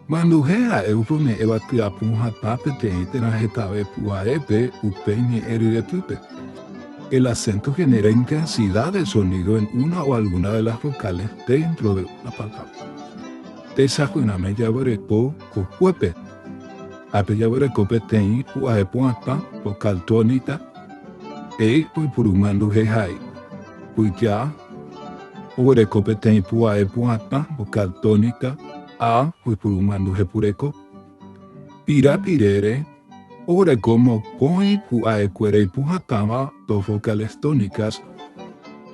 Manduhe ha'e upe ome'ẽva tyapũ hatã peteĩ térã hetave py'arépe upe ñe'ẽ ryepýpe. El acento genera intensidad de sonido en una o alguna de las vocales dentro de una palabra. Tesapyrãme jaguereko kokuépe ha pejaguereko peteĩ pu'ae pu'atã, vocal tónica, e oipuru manduhe ha'e. Pyja, oguereko peteĩ pu'ae pu'atã, vocal tónica, a, ypyru mandu hepureko. Pira, pirére, oguereko mokõi pu'aekuéra ipu'atãva, dos vocales tónicas,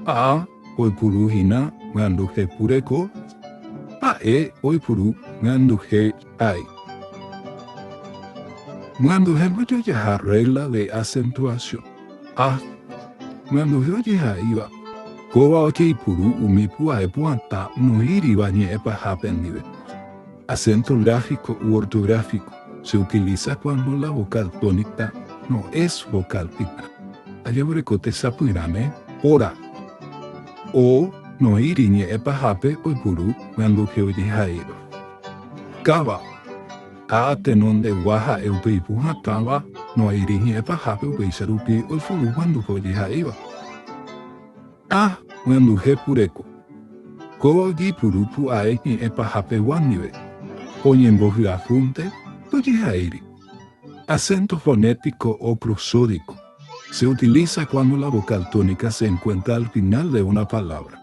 a, oipuru hína mandu hepureko, ha'e, oipuru mandu he. Ay. Ñanduhéma jajaha rregla de acentuación. A. Ñanduhe ojehaíva, kóva ojeipuru umi pu'ae pu'atã noĩriva ñe'ẽ pahápe ndive. Acento gráfico u ortográfico se utiliza cuando la vocal tónica no es vocal fija. Ajevoreko tesapyrãme óra. O noĩri ñe'ẽ pahápe oipuru ñanduhe ojehaíva. Káva, ha tenondegua ha'e upe ipu hatãva, no'airi hi'ẽ pahápe upéicha rupi oifuru guanduha ojeha'éiva. Ha guanduhe pureko, ko ojepuru pu'ae hi'ẽ pahapegua ndive, oñembohyahúnte ndojeha'éiri. Acento fonético o prosódico, se utiliza cuando la vocal tónica se encuentra al final de una palabra.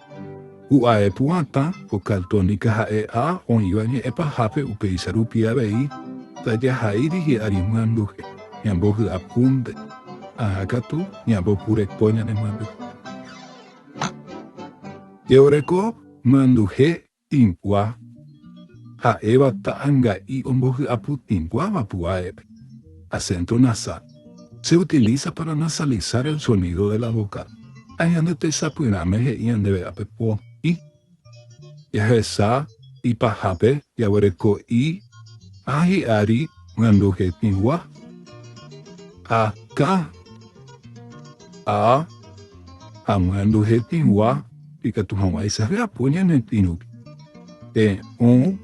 U'ae pu'ãta ko Caltónica ha'e ha oĩva ñe'ẽ pahápe upéicha rupi avei tajahaíri hi'ári myambuje ñambohy'apúnte, aha katu ñambopureko ñane myambuje. Jeoreko myanduje Tĩmbua, ha'éva ta'anga'i ombohy'apu tĩmbuáva pu'aépe, acento nasal, se utiliza para nasalizar el sonido de la vocal, ha ñande tesapyrãme he'i ñandéve ápe po, i. Jahesa i pahápe jaguereko i ha hi'ári oñanduhe tĩmbua, a, ka, a, ha oñanduhe tĩmbua. Ikatu hag̃uáicha japo ñane pirũke. Te'õ,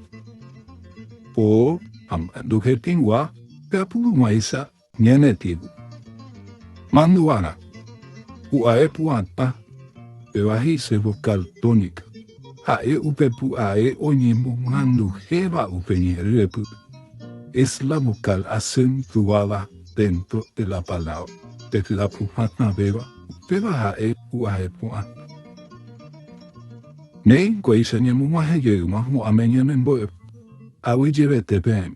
po ha mandu hetĩgua japu hag̃uáicha ñane pirũ. Mandu'arã, pu'ae pu'atã, péva he'ise vokál tónika. Ha'e upe pu'ae oñemomanduhéva upe ñe'ẽrepýpe. Es la vokál acentuada dentro de la palábra, pe hyapu hatãvéva. Péva ha'e pu'ae pu'ã. Néi nkuéicha ñemog̃uahẽ jey mo'ãme ñemembo'e, avyjevete peẽme.